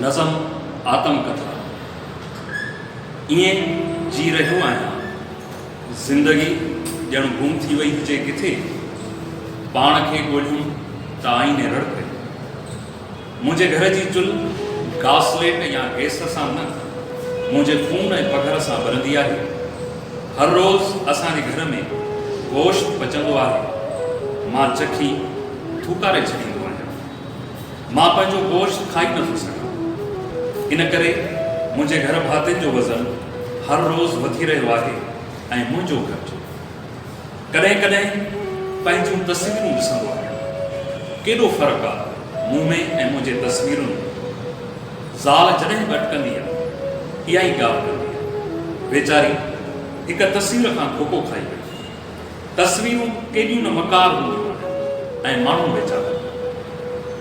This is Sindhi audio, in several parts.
نظم آتم ڪٿا، ائين جي رهيو آهيان، زندگي ڄڻ گم ٿي وئي هجي ڪٿي، پاڻ کي ڳولهيم ته آئيني رڙ ڪئي. منهنجي گهر جي چلهه گاسليٽ يا گئس سان نه، منهنجي خون ۽ پگهر سان ٻرندي آهي. هر روز اسان جي گهر ۾ گوشت پچندو آهي، مان چکي ٿوڪاري ڇڏيندو آهيان. مان پنهنجو گوشت کائي نه ٿو سگهان، ان ڪري منهنجي گهر ڀاتين جو وزن هر روز وڌي رهيو آهي ۽ منهنجو گهٽ. ڪڏهن ڪڏهن پنهنجون تصويرون ڏسندو آهيان. ڪيڏو فرق آ مون ۾ ۽ منهنجي تصويرن ۾. زال جڏهن به اٽڪندي آ، اها ئي ڳالهه ڪندي آ. ويچاري هڪ تصوير کان ڌوڪو کائي وئي. تصويرون ڪيڏيون نه مڪار هونديون آهن ۽ ماڻهو ويچارا.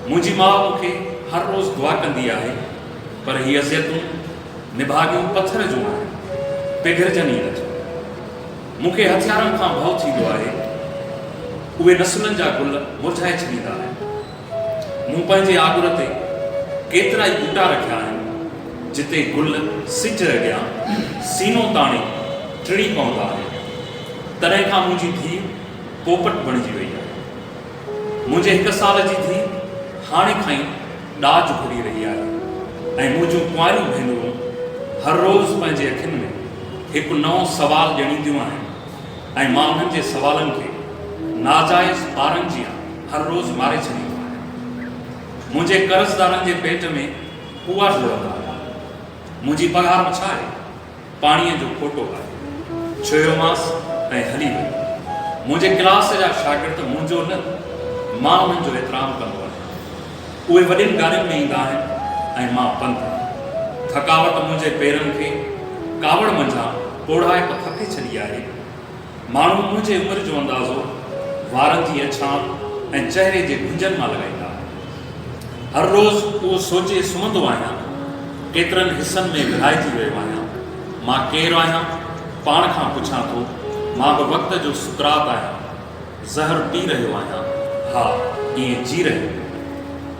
منهنجي ماء مون کي هر روز دعا ڪندي آهي پر هي اذيتون نڀاڳيون پٿر جون آهن، پگهرجن ئي نٿيون. مون کي هٿيارن کان ڀؤ ٿيندو آهي. اهي نسلن جا گل مرجهائي ڇڏيندا آهن. مون پنهنجي آڳر تي ڪيترائي ٻوٽا رکيا آهن، جتي گل سج اڳيان سينو تاڻي ٽڙي پوندا آهن. تڏهن کان منهنجي ڌيء پوپٽ بڻجي وئي آهي. منهنجي هڪ سال جي ڌيء هاڻي کان ئي ڏاج گهري رهي آهي ۽ منهنجون ڪنواريون ڀينرون هر روز پنهنجي اکين ۾ هڪ نئون سوال ڄڻينديون آهن ۽ مان انهن جي سوالن کي ناجائز ٻارن جيان هر روز ماري ڇڏيندو آهيان. منهنجي قرضدارن جي پيٽ ۾ ڪوئا ڊوڙندا رهيا. منهنجي پگهار به ڇا آهي، پاڻيء جو کوٽو آهي. ڇهيومانس ۽ هلي ويو. منهنجي ڪلاس جا شاگرد منهنجو نه، مان انهن جو احترام ڪندو آهيان. اهي وڏين گاڏين ۾ ايندا آهن ۽ مان پنڌ. ٿڪاوٽ منهنجي پيرن کي ڪاوڙ منجهان پوڙهائي ته ڦاڪي ڇڏي آهي. ماڻهو منهنجي عمر جو اندازو وارن جي اڇان ۽ چهري جي گهنجن مان لڳائيندا آهن. هر روز اهو سوچي سمهندو آهيان، ڪيترن حصن ۾ ورهائجي ويو آهيان، مان ڪير آهيان؟ پاڻ کان پڇان ٿو، مان به وقت جو سقراط آهيان، زهر پي رهيو آهيان، ها، ائين جي رهيو.